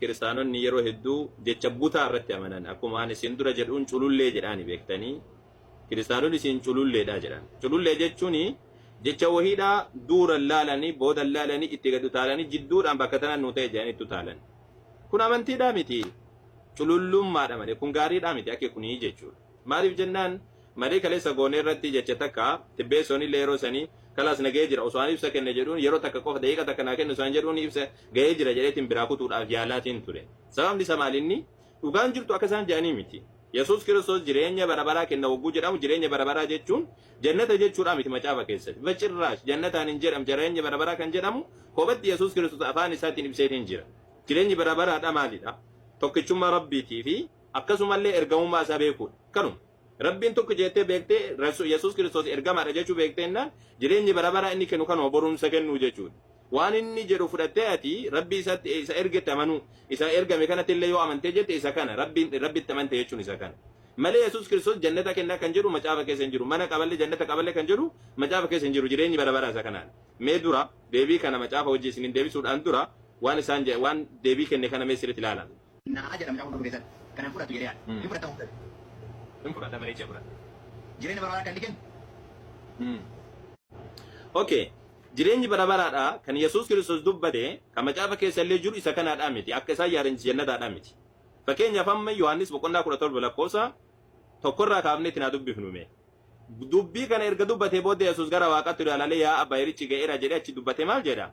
Kiristaanonni yeroo hedduu jecha butaa irratti amanan. Akkuma ani isin dura jedhuun culullee jedhaani beektanii. Kiristaanonni isin cululleedha jedhan. Culullee jechuun jecha wahiidha duuran laalanii boodan laalanii itti gad utaalanii jidduudhaan bakka tana nuu ta'e jedhanii itti utaalan. Kun amantiidhaa miti. Culullummaadha malee kun gaariidhaa miti akki kunii jechuudha. Maaliif jennaan marii kaleessa goone irratti jecha takka Tibbeessoon illee yeroo sanii kalaas na gahee jira osoo an ibsa kenne jedhuun yeroo takka qofa daqiiqa takka naa kenni osoo an jedhuun ibsa gahee jira jedheetiin biraa kutuudhaaf yaalaatiin ture. Sababni isa maal inni dhugaan jirtu akka isaan jedhanii miti. Yesuus Kiristoos jireenya bara baraa kenna wagguu jedhamu jireenya bara baraa jechuun jannata jechuudhaa miti macaafa keessatti. Bacirraash jannataan hin jedhamu jireenya bara baraa kan jedhamu kophatti Yesuus Kiristoos afaan isaatiin ibseetiin jira. Jireenyi bara baraadha maalidha? Tokkichummaa Rabbiitii fi akkasumallee ergamummaa isaa beekuudha. Kanuma. Rabbiin tokko jeettee beektee Rasu- Yesuus Kiristoos ergamaadha jechuu beektee innaan jireenyi bara baraa inni kennu kanuma borumsa kennuu jechuudha. Waan inni jedhu fudhattee ati Rabbii isatti isa ergetti amanuu isa ergame kanatti illee yoo amantee jette isa kana Rabbiin Rabbitti amante jechuun isa kana. Malee Yesuus Kiristoos jannata kennaa kan jedhu macaafa keessa hin jiru. Mana qaballe jannata qaballe kan jedhu macaafa keessa hin jiru. Jireenyi bara baraa isa kanaan. Mee dura deebii kana macaafa hojii isiniin deebisuudhaan dura waan isaan je- waan deebii kenne kana mee sirriitti ilaalaa. Na'aa jedha mucaa gurguddatee san. Kan hin fudhattu jedhee yaade. Hin fudhatta murtee. Hin fudhadha bareechee fudhadha. Jireenya bara baraa akka inni kennu. Ok. Jireenyi bara baraadha kan Yesuus Kiristoos dubbate kan macaafa keessa illee jiru isa kanaadhaa miti. Akka isaan yaadanitti jannataadhaa miti. Fakkeenyaaf amma Yohaannis boqonnaa 17 lakkoofsa tokkorraa kaafnee itti naa dubbifnu mee. Dubbii kana erga dubbatee booddee Yesuus gara waaqaatti ilaalalee yaa abbaa yerichi ga'eera jedhee achi dubbate maal jedha?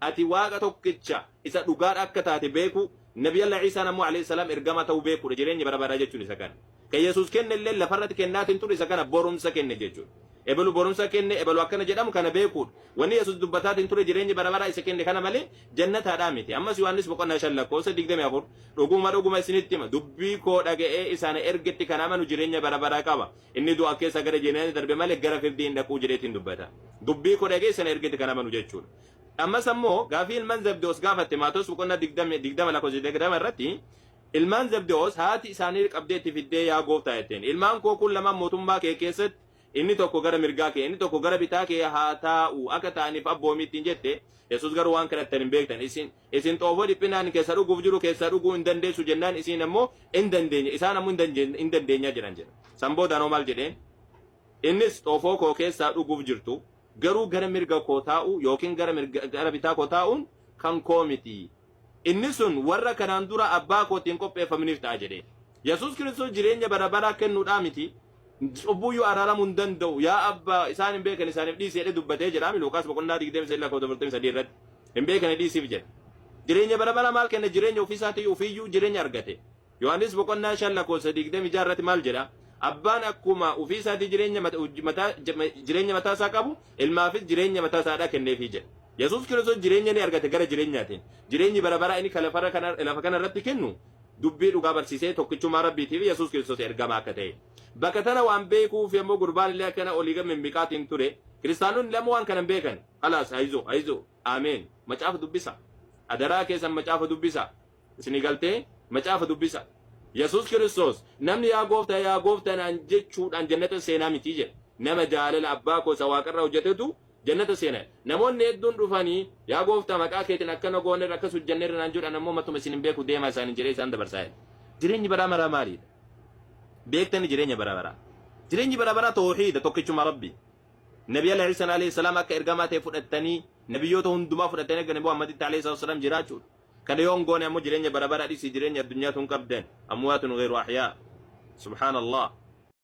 Ati Waaqa tokkicha isa dhugaadha akka taate beekuu, Nabiyallah Iisaan ammoo Aleyh salaam ergamaa ta'uu beekuudha, jireenya bara baraa jechuun isa kana. Kan Yesuus kenne illeen lafarratti kennaatiin ture isa kana borumsa kenne jechuudha. Ebelu borumsa kenne, ebelu akkana jedhamu kana beekuudha. Wanni Yesuus dubbataatiin ture jireenya bara baraa isa kenne kana malee jannataadhaa miti. Ammas Yohaannis boqonnaa 5 lakkoofsa 24 dhuguma dhuguma isinitti hima dubbii koo dhaga'ee isa ana ergetti kan amanu jireenya bara baraa qaba. Inni du'a keessaa gara jireenyaatti darbe malee gara firdii hin dhaquu jedheetiin dubbata. Dubbii koo dhaga'ee isa ana ergetti kan amanu jechuudha. Ammas ammoo gaafii ilman Zebdewoos gaafatte Maatewos boqonnaa 20 20 lakkoofsa 20 irratti ilmaan Zebdewoos haati isaanii qabdee itti fiddee yaa gooftaa jetteen ilmaan koo kun lamaan mootummaa kee keessatti inni tokko gara mirgaa kee inni tokko gara bitaa kee haa taa'u akka ta'aniif abboomi ittiin jette Yesuus garuu waan kadhattan hin beektan isin isin xoofoo dhiphinaan keessa dhuguuf jiru keessaa dhuguu hin dandeessu jennaan isin ammoo hin dandeenya isaan ammoo hin dandeen- hin dandeenyaa jedhan jedha san boodaan hoo maal jedheen innis xoofoo koo keessaa dhuguuf jirtu Garuu gara mirga koo taa'uu yookiin gara mirga, gara bitaa koo taa'uun kan koo miti. Inni sun warra kanaan dura abbaa kootiin qopheeffamaniif ta'a jedhee. Yesuus Kiristoos jireenya bara baraa kennuudhaa miti, cubbuuyyuu araaramuu hin danda'u, yaa abbaa isaan hin beekan isaaniif dhiisi jedhee dubbatee jedhaami Luuqaas boqonnaa 23:43 irratti. Hin beekane dhiisiif jedhe. Jireenya bara baraa maal kenna jireenya ofiisaatii ofiiyyuu jireenya argate. Yohaannis boqonnaa 5 lakkoofsa 26 irratti maal jedha? Abbaan akkuma ofii isaatii jireenya mata- hojii mataa- jama- jireenya mataa isaa qabu ilmaafis jireenya mataa isaa kenneefii jedha. Yesuus Kiristoos jireenya ni argate gara jireenyaatiin. Jireenyi bara baraa inni kan lafarra kana- lafa kana irratti kennu dubbii dhugaa barsiisee tokkichummaa Rabbiitiif Yesuus Kiristoos ergamaa akka ta'e. Bakka tana waan beekuuf yommuu gurbaan illee akkana olii gad mimmiqaatiin ture kiristaanonni lama waan kana hin beekan. Halaas hayizo hayizo ameen macaafa dubbisa. Adaraa keessan macaafa dubbisa. Isinii galtee? Macaafa dubbisa. Yesuus Kiristoos namni yaa gooftaa yaa gooftaa naan jechuudhaan jannata seenaa miti jedhe. Nama jaalala abbaa koo isa waaqarraa hojjetetu jannata seena. Namoonni hedduun dhufanii yaa gooftaa maqaa keetiin akkana goonerra akkas hojjenneerra naan jedhan ammoo matuma isin hin beeku deemaa isaaniin jedhee isaan dabarsaa jedhe. Jireenyi baraa maraa maalidha? Beektani jireenya bara baraa. Jireenyi bara baraa toohiida tokkichuma rabbi. Nabi Ala Iisan alayhi salaam akka ergamaa ta'e fudhattanii nabiyyoota hundumaa fudhattanii akka Nabi Muhammaditti alayhi salaam jiraachuudha. kana yoo hin goone ammoo jireenya bara bara dhisii jireenya addunyaa tun qabdan amwaatun gayru ahyaa subhaanallah